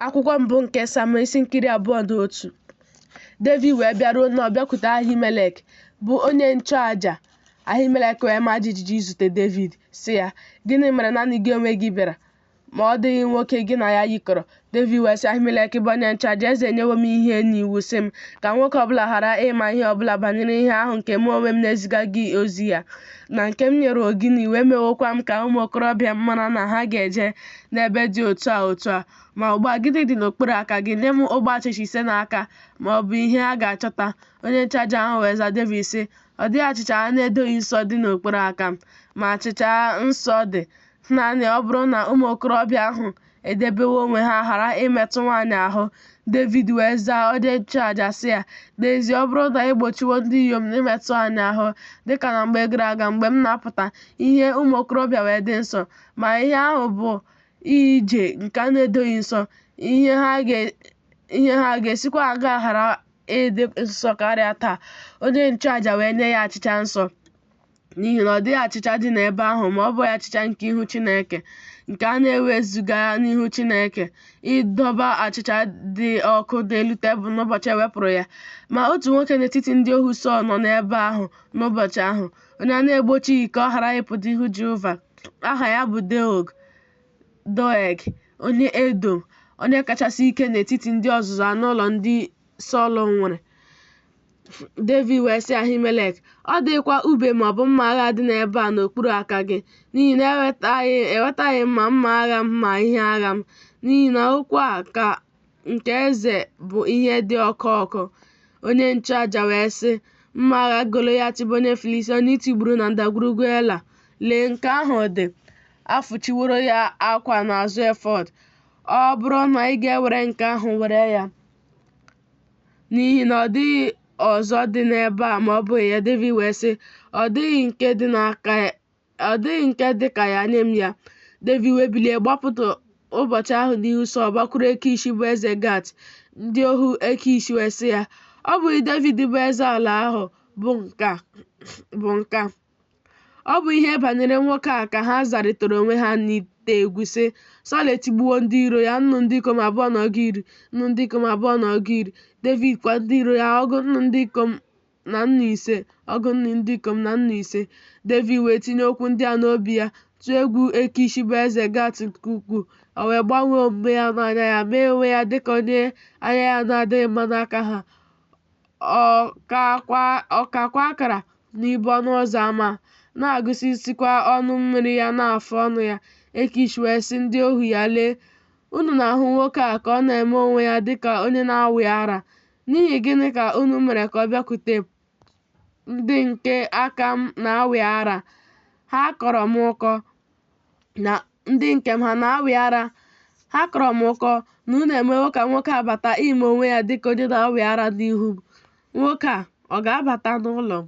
Akwụkwọ mbụ nke Samuel isi nke iri abụọ na otu. Devid wee bịaruo Nọb bịakwute Ahimelek bụ onye nchụaja. Ahimelek wee maa jijiji izute Devid, sị ya, Gịnị mere nanị gị onwe gị bịara? Ma ọ dịghị nwoke gị na ya yikọrọ. Devid wee sị Ahimelek bụ onye nchụaja, Eze enyewo m ihe n'iwu sị m ka nwoke ọ bụla ghara ịma ihe ọ bụla banyere ihe ahụ nke mụ onwe m na-eziga gị ozi ya, na nke m nyere gị n'iwu, emewokwa m ka ụmụ okorobịa m mara na ha ga-eje n'ebe dị otu a otu a, ma ugbu a gịnị dị n'okpuru aka gị? Nye m ogbe achịcha ise n'aka, ma ọ bụ ihe a ga-achọta. Onye nchụaja ahụ wee zaa Devid sị, Ọ dịghị achịcha a na-edoghị nsọ dị n'okpuru aka m, ma achịcha nsọ dị, naanị ọ bụrụ na ụmụ okorobịa ahụ edebewo onwe ha ghara imetụ nwaanyị ahụ. Devid wee zaa onye nchụaja sị ya, N'ezie, ọ bụrụ na e gbochiwo ndị inyom imetụ anyị ahụ, dịka na mgbe gara aga mgbe m na-apụta ihe ụmụ okorobịa wee dị nsọ, ma ihe ahụ bụ ije nke a na-edoghị nsọ, ihe ha ga-esikwa aṅaa ghara ịdị nsọ karịa taa, onye nchụaja wee nye ya achịcha nsọ, n'ihi na ọ dịghị achịcha dị n'ebe ahụ ma ọ bụghị achịcha nke ihu Chineke, nke a na-ewezuga n'ihu Chineke ịdọba achịcha dị ọkụ n'elu tebụl n'ụbọchị e wepụrụ ya. Ma otu nwoke n'etiti ndị ohu Sọl nọ n'ebe ahụ n'ụbọchị ahụ. onye a na-egbochighị ka ọ ghara ịpụta ihu Jehova. Aha ya bụ Deog, Doeg, onye Edom, onye kachasị ike n'etiti ndị ọzụzụ anụ ụlọ ndị Sọl nwere. Devid wee sị Ahimelek, Ọ dịghịkwa ube ma ọ bụ mma agha dị n'ebe a n'okpuru aka gị, n'ihi na ewetaghị m ma mma agha m ma ihe agha m, n'ihi na okwu a ka nke eze bụ ihe dị ọkụ ọkụ. Onye nchụaja wee sị, Mma agha Golaịat bụ onye Filistia onye i tigburu na ndagwurugwu Ela, lee nke ahụ dị, a fụchiworo ya akwa n'azụ efọd. Ọ bụrụ na ị ga-ewere nke ahụ were ya, n'ihi na ọ dịghị ọzọ dị n'ebe a ma ọ bụghị ya. Devid wee sị, Ọ dịghị nke dị n'aka ọ dịghị nke dị ka ya nye m ya. Devid wee bilie gbapụta ụbọchị ahụ n'ihu Sọl gbakwuru Ekish bụ eze Gat. Ndị ohu Ekish wee sị ya, Ọ bụghị Devid bụ eze ala ahụ bụ nke a. Ọ bụ ihe banyere nwoke a ka ha zarịtara onwe ha n'ite egwu sị, Sọl etigbuwo ndị iro ya nnu ndị ikom abụọ na ọgụ iri, nnu ndị ikom abụọ na ọgụ iri. Devid kwa ndị iro ya ọgụ nnu ndị ikom na nnu ise ọgụ nnu ndị ikom na nnu ise Devid wee tinye okwu ndị a n'obi ya tụọ egwu Ekish bụ eze Gat nke ukwuu o wee gbanwee omume ya n'anya ya mee onwe ya dịka onye anya ya na-adịghị mma n'aka ha ọ kakwa akara n'ibo ọnụ ụzọ ama na-agụsisikwa ọnụ mmiri ya n'afụ ọnụ ya Ekish wee sị ndị ohu ya lee unu na-ahụ nwoke a ka ọ na-eme onwe ya dịka onye na-awị ara N'ihi gịnị ka unu mere ka ọ bịakwute m? Ndị nke aka m na-awị ara? Ha kọrọ m ụkọ na ndị nke m ha na-awị ara. Ha kọrọ m ụkọ na unu emewo ka nwoke a bata ime onwe ya dịka onye na-awị ara n'ihu m. Nwoke a ọ ga-abata n'ụlọ m?